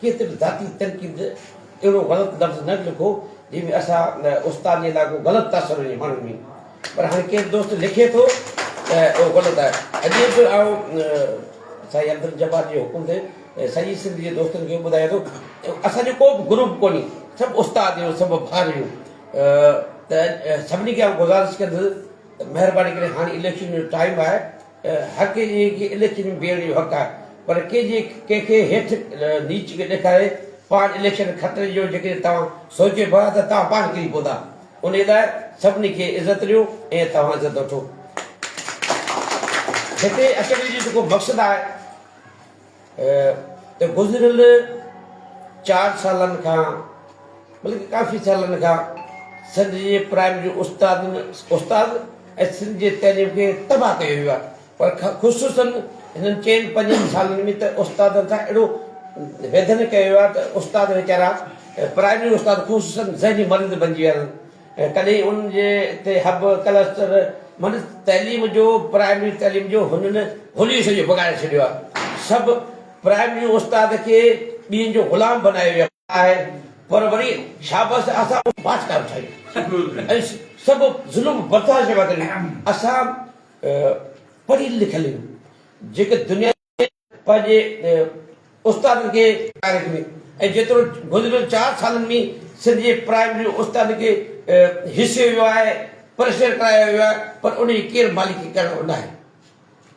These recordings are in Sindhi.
ڪٿي به ذاتي تنقيد اهڙو غلط لفظ نه لکو جنهن ۾ اسان استاد جي لاء ڪو غلط تاثر هجي ماڻهن ۾ پر هاڻي ڪير دوست لکي ٿو ته اهو غلط آهي اڄ به آئون سائين عبدالجبار جي حڪم تي سڄي سنڌ جي دوستن کي ٻڌايان ٿو اسان جو ڪو به گروپ ڪونهي سڀ استاد آهيون سڀ ڀار آهيون ته سڀني کي آئون گذارش ڪندس ته مهرباني ڪري هاڻي اليڪشن جو ٽائيم آهي حق ڪي جي ڪي اليڪشن ۾ بيهڻ جو حق آهي پر ڪي جي ڪنهن کي هيٺ نيچ کي ڏيکاري پاڻ اليڪشن خطري جو جيڪڏهن توهان سوچي پيا ته توهان پاڻ ڪري پوندا انهي لاء سڀني کي عزت ڏيو ۽ توهان عزت وٺو هتي اچڻ جو جيڪو مقصد آهي. ته گذريل چار سالن کان بلڪ ڪافي سالن کان سنڌ جي پرائمري استادن استاد ۽ سنڌ جي تعليم کي تباهه ڪيو ويو آهي پر خصوصا هنن چئن پنجن سالن ۾ ته استادن سان اهڙو ويڌن ڪيو ويو آهي ته استاد ويچارا پرائمري استاد خصوصا ذهني مريض بنجي ويا آهن تڏهن ان جي تي هب، ڪلسٽر، معني تعليم جو پرائمري تعليم جو هنن هوليو سڄو بگاڙي ڇڏيو آهي. سڀ پرائمريون استاد کي ٻين جو غلام بنايو ويو آهي پر وري شابس اسان اهو پاٺ ڪانه ٺاهيو ۽ سڀ ظلم برداشت ڪري اسان پڙهيل لکيل آهيون جيڪي دنيا پنهنجي استادن کي تاريخ ۾ ۽ جيترو گذريل چار سالن ۾ سنڌ جي پرائمري استادن کي هيسيو ويو آهي پريشر ڪرايو ويو آهي پر ان جي ڪير مالڪي ڪرڻ وارو ناهي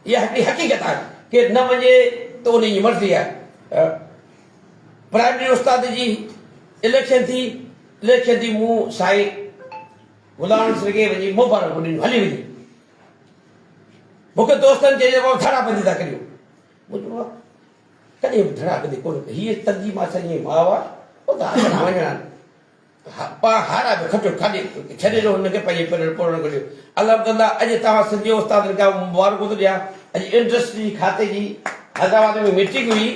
اها هڪڙي حقيقت آهي ڪير نه مڃي ته ان جي مرضي آهي پرائمري استاد جي اليڪشن ٿي اليڪشن ٿي مون سائين غلام سرگي وڃي مبارڪ ڏنيون هلي وڃي مون کي دوستن چيو جيڪو ڌڙا بندي ٿا ڪريو مون چيو ڪڏهن به ڌڙا بندي ڪونه ڪئي هي تنظيم اسان جي ماء آ او ته هاڻ وڃڻ پا هارا به کٽو کاڏي ڇڏي ڏو هن کي پنهنجي پرل پورڻ ڪريو الحمدلله اڄ توهان سنڌي استادن کي مبارڪون ٿو ڏيان اڄ انڊسٽري جي کاتي جي حيدرآباد ۾ ميٽنگ هئي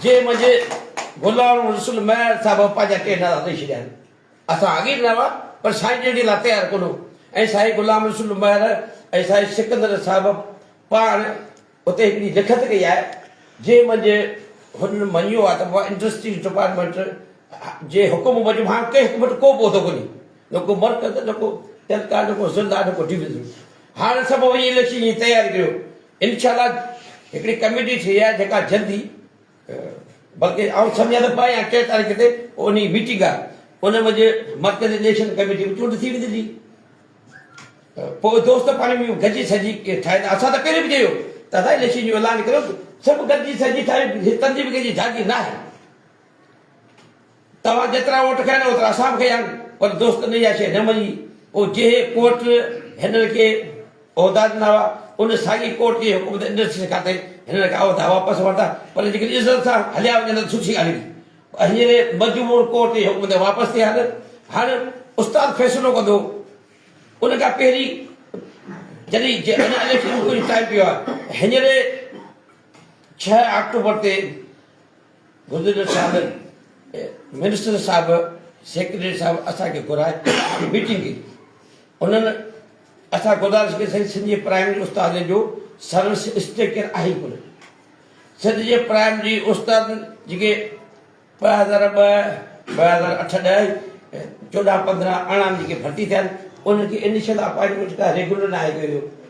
جنهن منجهه غلام رسول مهر صاحب پنهنجا ٽي نعرا ڏيئي ڇڏيا آهن اسان اڳي به نه هئا پر سائين جن جي لاء تيار ڪونه هو ۽ سائين غلام رسول لنباڻي ۽ سائين سڪندر صاحب پاڻ اتي هڪڙي لکت ڪئي آهي جنهن منجهه هنن مڃيو آهي ته انڊسٽريز ڊپارٽمينٽ جي حڪم موجب هاڻ ڪنهن حڪم وٽ ڪو به عهدو ڪونهي نه ڪو مرڪز نه ڪو تعلقات نه ڪو ضلع نه ڪو ڊويزن هاڻ سڀ وڃي اليڪشن جي تياري ڪريو انشاء الله هڪڙي ڪميٽي ٺهي آهي جيڪا جلدي بلڪه آئون سمجهان ته ٻه يا ٽي تاريخ تي انهي ميٽنگ ان منجهه مرڪزي اليڪشن ڪميٽي به چونڊ ٿي ويندي جي پوء دوست پاڻي ۾ گڏجي سڏجي ٺاهيندا اسان ته پهرين به چيو ته اسان اليڪشن جو اعلان ڪيو سڀ گڏجي سڏجي ٺاهيون هي تنظيم ڪنهن جي جاگير ناهي. توهان جيترا ووٽ کنيا نه اوترا اسان به کنيا آهن پر دوست نه اها شيء نه مڃي او جنهن ڪورٽ هنن کي عهدا ڏنا هئا ان ساڳي ڪورٽ جي حڪم تي انڊسٽريز کاتي هنن کان عهدا واپس ورتا پر جيڪڏهن عزت سان هليا وڃن ته سٺي ڳالهه هئي هينئر مجبور ڪورٽ جي حڪم تي واپس ٿيا آهن هاڻ استاد فيصلو ڪندو ان کان پهرين جڏهن جي اڃا اليڪشن جو ٽائيم پيو آهي هينئر ڇهه آڪٽوبر تي گذريل سال منسٽر صاحب سيڪريٽريٽ صاحب اسان کي گهرائي ميٽنگ ڪئي انهن اسان گذارش ڪئي سائين سنڌ جي پرائمري استادن جو سروس اسٽرڪچر آهي ڪونه سنڌ جي پرائمري استاد جيڪي ٻه هزار ٻه ٻه هزار اٺ ڏهه چوڏهن پندرهن ارڙهن جيڪي ڀرتي ٿيا آهن انهن کي انيشل اپائنٽمنٽ ڪا ريگولر ناهي ڪيو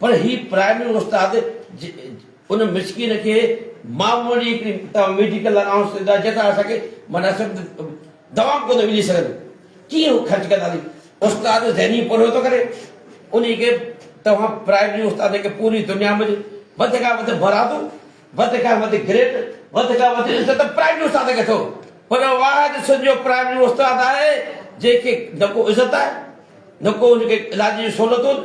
پر هي پرائمري استاد ان مسڪين کي معمولي هڪڙي توهان ميڊيڪل الائونس ڏيندا جنهن سان اسان کي مناسب دوائون ڪونه ملي سگهنديون ڪيئن هو خرچ ڪنداسين استاد ذهني پورهيو ٿو ڪري انهي کي توهان پرائمري استاد کي پوري دنيا ۾ وڌ کان وڌ برادو وڌ کان وڌ گريڊ وڌ کان وڌ عزت پرائمري استاد کي ٿو پر واحد سنڌ جو پرائمري استاد آهي جنهن کي نه ڪو عزت آهي نه ڪو ان کي علاج جون سهولتون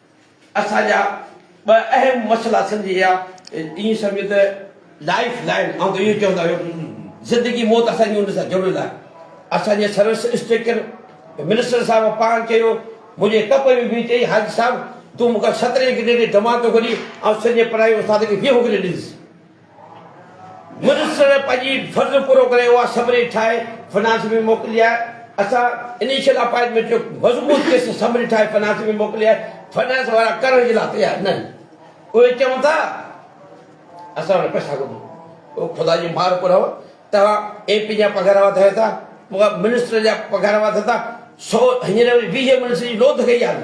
اسان جا ٻه اهم مسئلا سمجهي ويا. ائين سمجهو ته لائيف لائين، آئون ته اهو ئي چوندا هيم، زندگي موت اسان جي ان سان جڙيل آهي. اسان جي سروس انسپيڪٽر منسٽر صاحب پاڻ چيو، منهنجي ڪپ ۾ ويهي چيائين، حاجي صاحب تون مون کان سترين گريڊ جي جماعت ٿو گهرين، آئون سڄي پڙهائي استاد کي ويهون گريڊ ڏيندس. منسٽر پنهنجي فرض پورو ڪري اها سمري ٺاهي فرانس ۾ موڪلي آهي اسان انيشل اپائنٽمينٽ جو مضبوط قسط سمري ٺاهي فرانس ۾ موڪلي آهي فرانس وارا ڪرڻ جي لاء تيار ناهن اهي چون ٿا اسان وٽ پئسا ڪونهن اهو خدا جي مار پورا توهان اي پي جا پگهار وڌايو ٿا منسٽر جا پگهار وڌن ٿا سو هينئر وري ويهه منسٽر جي لوڌ ڪئي آهي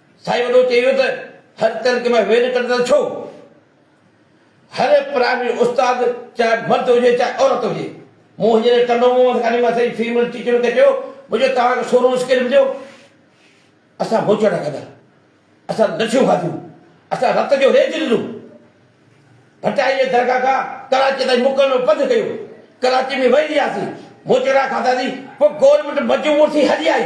سائين وڏو چئي ويو ته هر تلڪ ۾ ويل ڪڍندڙ ڇو؟ هر پرائمري استاد چاهي مرد هجي چاهي عورت هجي مون هينئر ٽنڊو منهن ۾ ڪاني مان سڄي فيمل ٽيچرن کي چيو مجو توهان کي سورهون اسڪيل مليو اسان موچڙا کاڌا اسان لڇيون کاڌيون اسان رت جو ريج ڏنو ڀٽائي جي درگاهه کان ڪراچي تائين مڪل ۾ پنڌ ڪيو ڪراچي ۾ وهي رهياسين موچڙا کاڌاسين پوء گورنمينٽ مجبور ٿي هلي آئي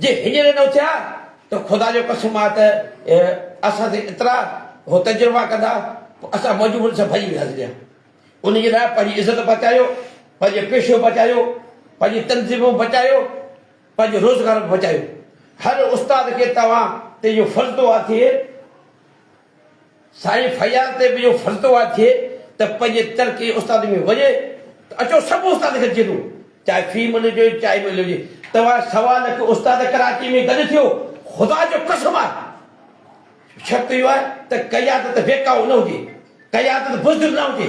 جي هينئر نه اٿيا ته خدا جو قسم آ ته اسان تي ايترا هو تجربا ڪندا پوء اسان موجوبن سان ڀڄي وياسين جا ان جي لاء پنهنجي عزت بچايو پنهنجو پيشو بچايو پنهنجي تنظيمون بچايو پنهنجو روزگار به بچايو هر استاد کي توهان تي اهو فرض ٿو آ ٿئي سائين فياض تي به اهو فرض توعد ٿئي ته پنهنجي ترقي استاد ۾ وڃي ته اچو سڀ استاد کي جهلون چاهي في ملي هجي چاهي ملي هجي توهان سوا لک استاد ڪراچي ۾ گڏ ٿيو خدا جو قسم آهي شرط اهو آهي ته قيادت بيڪاو نه هجي قيادت بزدل نه هجي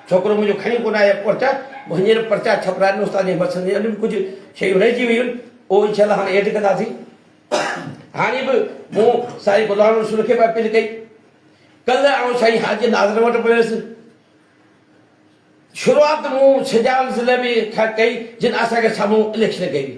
ڇوڪرو منهنجو کڻي ڪونه آيو پرچا، مون هينئر پرچا ڇپرايا آهن، استاد جي مشن جي اڳ به ڪجهه شيون رهجي ويون آهن، اهو انشاء الله هاڻي ايڊ ڪنداسين. هاڻي به مون سائين غلام رسول کي به اپيل ڪئي. ڪلهه آئون سائين حاجي ناظر وٽ به ويس. شروعات مون سجاول ضلعي ۾ کان ڪئي، جن اسان کي سامهون اليڪشن ڪئي هئي.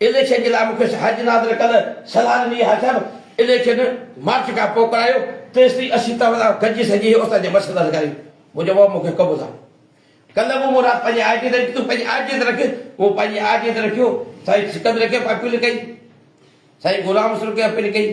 اليڪشن جي لاء مون کيس حج ناظر ڪل سلان مير ها صاحب اليڪشن مارچ کان پو ڪرايو تيستائين اسين توهان سان گڏجي سڄي اوسان جي مسئلا حل ڪرايون مون چيو بابا مون کي قبول آ ڪل مون مراد پنهنجي آء ڊي تي رکي تون پنهنجي آء ڊي تي رک مون پنهنجي آء ڊي تي رکيو سائين سڪندر ڪيمپ اپيل ڪئي سائين غلام حسن ڪيمپ اپيل ڪئي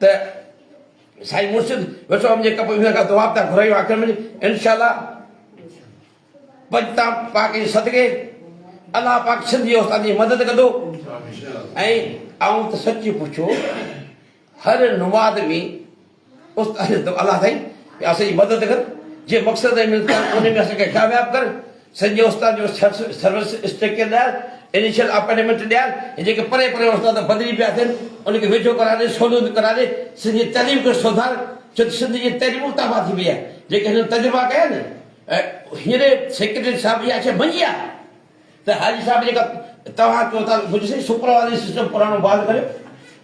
ته سائين مرشد ويٺو وڃي ڪپ ويهن کان دعا پيا گهرايون آخر ۾ انشاء الله پنجتام پاڪ جي صدقي الله پاڪ سنڌي استاد جي مدد ڪندو ۽ آئون ته سچي پڇو هر نماز ۾ استاد الله سائين اسان جي مدد ڪر جي مقصد ۾ ان ۾ اسان کي ڪامياب ڪر سڄي استاد جو سروس اسٽيڪر ڏيار، انيشل اپنٽمينٽ ڏيار، هي جيڪي پرين پرين استاد بدلي پيا ٿين، ان کي ويجهو ڪرائي ڏي، سهوليتون ڪرائي ڏي، سنڌ جي تعليم کي سڌار، ڇو ته سنڌ جي تعليم اتافا ٿي وئي آهي، جيڪي هنن تجربا ڪيا آهن، هينئر سيڪريٽريٽ صاحب اها شيء ڀڃي آ ته حاجي صاحب جيڪا توهان چئو ٿا، سپروائزري سسٽم پراڻو بحال ڪريو.